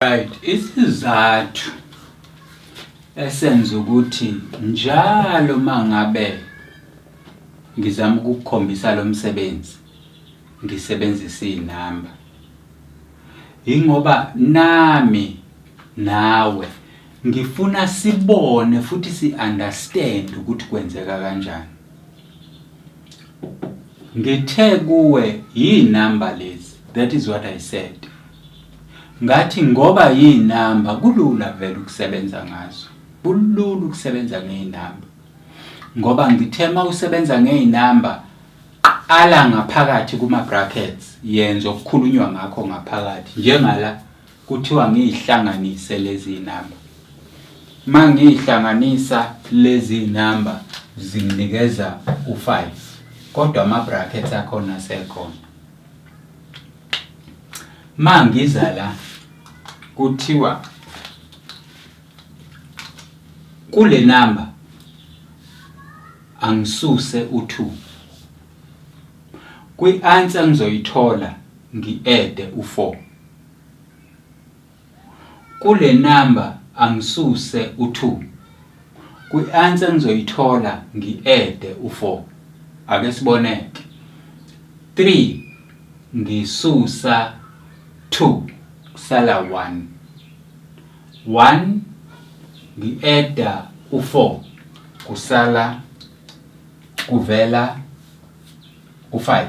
Right, isizathu esenza ukuthi njalo mangabe ngizama ukukhombisa lo msebenzi ngisebenzisa izinamba ingoba nami nawe ngifuna sibone futhi si-understand ukuthi kwenzeka kanjani. Ngithe kuwe yinamba lezi that is what I said. Ngathi ngoba yinamba kulula vele ukusebenza ngazo. Kulula ukusebenza ngezinamba. Ngoba ngithe mawusebenza ngezinamba qala ngaphakathi kuma brackets yenza okukhulunywa ngakho ngaphakathi njengala Kuthiwa ngiyihlanganise lezi namba. Uma ngiyihlanganisa lezi namba zinginikeza u-five kodwa ama-brackets akhona asekhona. Uma ngiza la kuthiwa kule namba angisuse u-two. Kwi-answer ngizoyithola ngi-ede u-four. Kule number angisuse u two. Kwi answer engizoyithola ngi add u four. Ake sibone ke. Three ngisusa two kusala one. One ngi add u four kusala kuvela u five.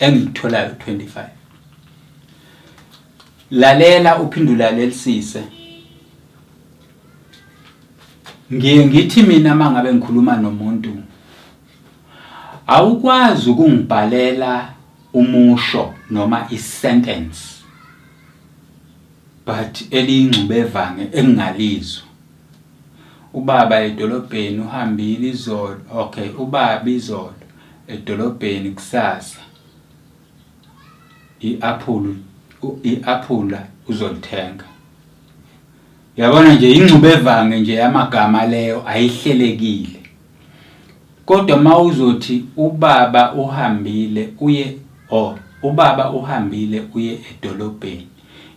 engikutholayo 25 lalela uphindula lelisise ngiye ngithi mina mangabe ngikhuluma nomuntu awukwazi ukungibhalela umusho noma isentence but eliyingxubevange engingalizwa Ubaba edolobheni uhambile izolo okay ubaba izolo edolobheni kusasa i-aphula i-aphula uzolithenga. Yabona nje ingxubevange nje yamagama leyo ayihlelekile. Kodwa mawuzothi ubaba uhambile uye or ubaba uhambile uye edolobheni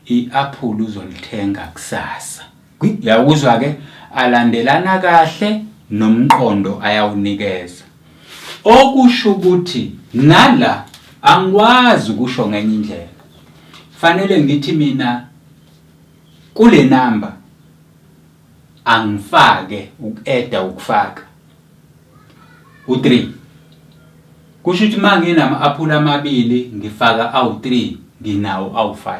i-aphula uzolithenga kusasa. Uyakuzwa ke alandelana kahle nomqondo ayawunikeza. Okusho ukuthi nala angikwazi ukusho ngenye indlela. Fanele ngithi mina kule number angifake uku-eda ukufaka u-3 kusho ukuthi uma nginama-aphula amabili ngifaka awu-3 nginawo awu-5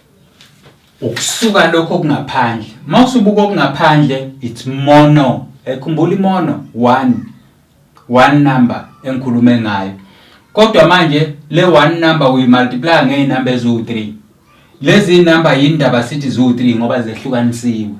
ukusuka lokho okungaphandle uma usubuka okungaphandle it's mono ekhumbula imono one one number engikhulume ngayo kodwa manje le one number uyimultiplya ngey'number eziwu-three lezi number yini ndaba sithi ziwu-three ngoba zehlukanisiwe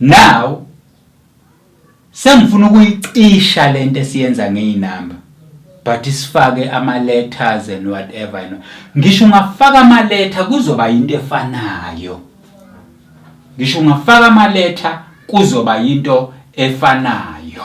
Now sengifuna ukuyicisha lento esiyenza ngeinamba but isifake ama letters and whatever you know. Ngisho ungafaka ama letter kuzoba into efanayo. Ngisho ungafaka ama letter kuzoba into efanayo.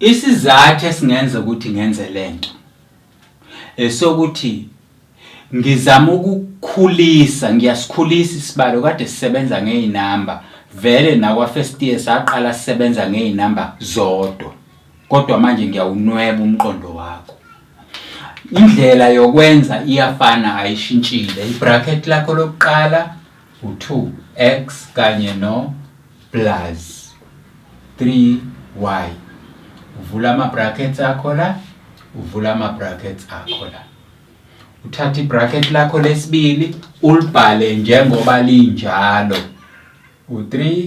Isizathu esingenza ukuthi ngenze lento esokuthi ngizama ukukhulisa ngiyasikhulisa isibalo kade sisebenza ngeyinamba vele nakwa first year saqala sisebenza ngeyinamba zodwa kodwa manje ngiyawunweba umqondo wakho indlela yokwenza iyafana ayishintshile ibracket lakho lokuqala u-2 x kanye no plus 3 y uvula ama-brackets akho la uvula ama-brackets akho la uthatha i-bracket lakho lesibili ulibhale njengoba linjalo u-3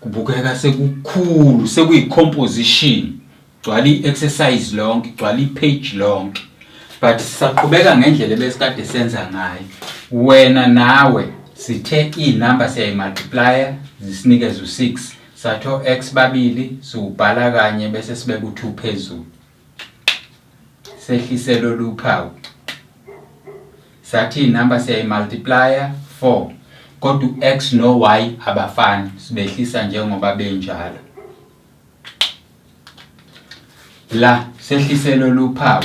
Kubukeka sekukhulu sekuyi composition gcwala i-exercise lonke gcwala i-page lonke but sisaqhubeka ngendlela ebesikade senza ngayo wena nawe sithe iy'number siyayi-multiplya zisinikeze u-six sathi o-x babili siwubhala kanye bese sibeka u-two phezulu sehlise lolu phawu sathi inumber siyayimultiplya 4 kodwa u-x no-y abafani sibehlisa njengoba benjalo la sehlise lolu phawu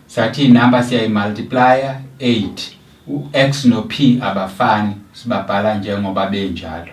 sathi inumber siyayimultiplya 8 u-x no-p abafani sibabhala njengoba benjalo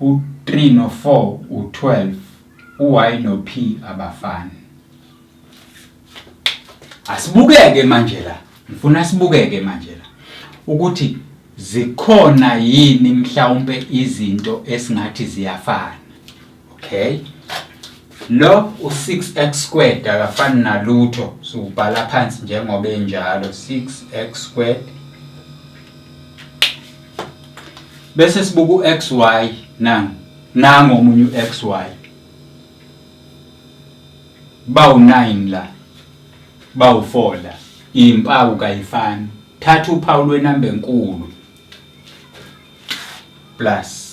U-3 no-4 u-12, u-Y no-P abafani. Asibukeke manje la, ngifuna sibukeke manje la ukuthi zikhona yini mhlawumpe izinto esingathi ziyafana. okay lo u6x squared akafani nalutho siwubhala phansi njengoba enjalo 6x squared bese sibuka uxy nang nango omunye uxy bawu 9 la bawu 4 la impawu kayifani thatha uphawu lwenamba enkulu plus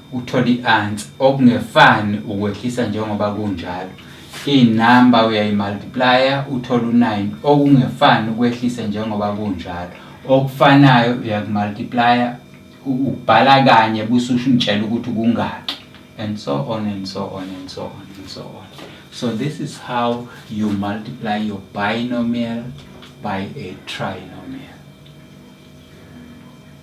Uthole i-ansi okungefani ukwehlisa njengoba kunjalo. Inamba uyayimultiplaya uthole u-9 okungefani ukwehlisa njengoba kunjalo. Okufanayo uyakumultiplaya ubhala kanye bususho ungitshela ukuthi kungaki and so on and so on and so on and so on. So this is how you multiply your binomial by a trinomial.